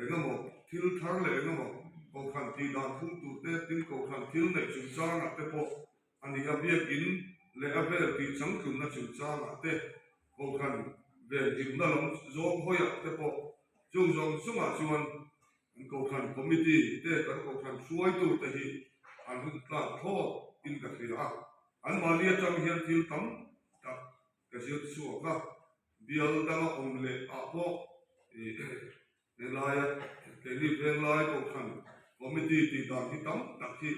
Engemaw thil thar leh engemaw kohhran tih dan phumtute tin kohhran thil neih chungchangah te pawh a ni a, biakin leh a vel tih changtlunna chungchangah te, kohhran vel dimna lam zawng hawiah te pawh. Chung zawng zongah chuan an kohhran committee te kan kohhran hruaitute hi an rawn tlak thlawt in ka hria a, anmahni atang hian thil tam tak ka zir chhuak a, bial danga awm leh ah pawh helaia keini venglai kohhran committee tih dan hi tam tak hi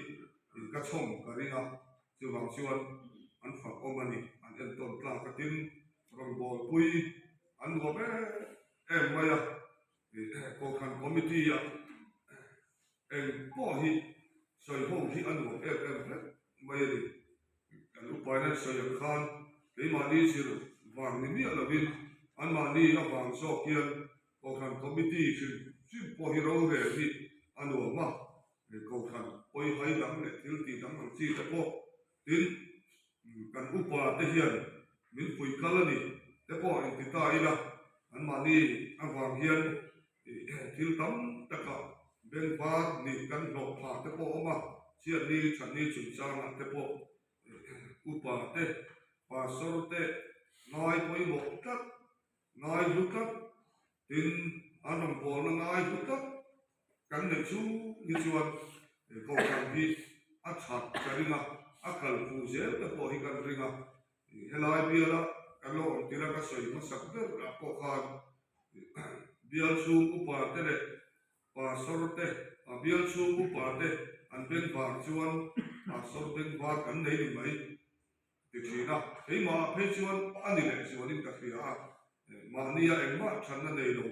ka chhawm ka ring a, chuvang chuan an fak awm a ni, an entawn tlak atin rawn bawlpui an vuah em em mai a. Kohhran Committee-a engpawh hi sawi ho hi a nuam em em hle mai a ni. Kan upainan sawi ang khan keimahni zir vang ni miah lovin anmahni avang zawk hian Kohhran Committee hrilh hrilh pawh hi rorel hi a nuam a, Kohhran pawi hai dang leh thil tih dang ang chi te pawh Tin, kan upa te hian min pui kal a ni te pawh an ti ta ila, anmahni avang hian thil tam taka beng var nih kan hlawh phah te pawh a awm a, chiatni chahni chungchangah te pawh upa te, pastor te ngai pawimawh tlat, Ngai hlu tlat in an rawn pawl na ngai hlu tlat kan nei chu ni chuan he program hi a that ka ring a, a kal pu zel te pawh hi kan ring a, helai biala kan lo awm tir a ka sawi hmasak ber ah pawh khan bial chhung upa te leh pastor te ah bial chhung upa te an beng vang chuan pastor beng var kan nei ni mai. ti thin a, keimahah phei chuan a ni leh chuanin ka hria a, mahni a engmah ṭhanna nei lo,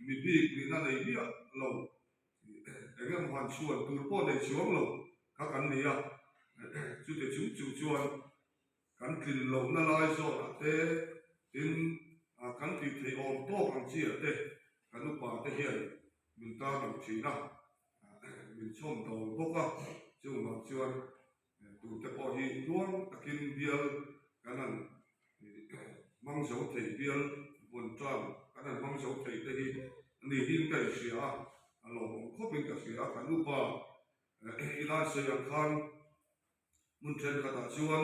mi bik nihna nei biah lo, eng emaw han chhuan tur pawh nei chuang lo kha kan ni a, chute chung chung chuan kan tlin lohna lai zawnah te tin kan tih theih awm tawk ang chiah te ka nupa te hian min tarlang thin a, min chhawm dawng bawk a, chungah chuan. Eitur te pawh hi hnual takin bial kan han hmang zo thei bial vun tan kan han hmang zo thei te hi ni hi'n ka inhria a, a lawmawm khawpin ka hria a, ka nupa i lansei ang khan hmun thenkhatah chuan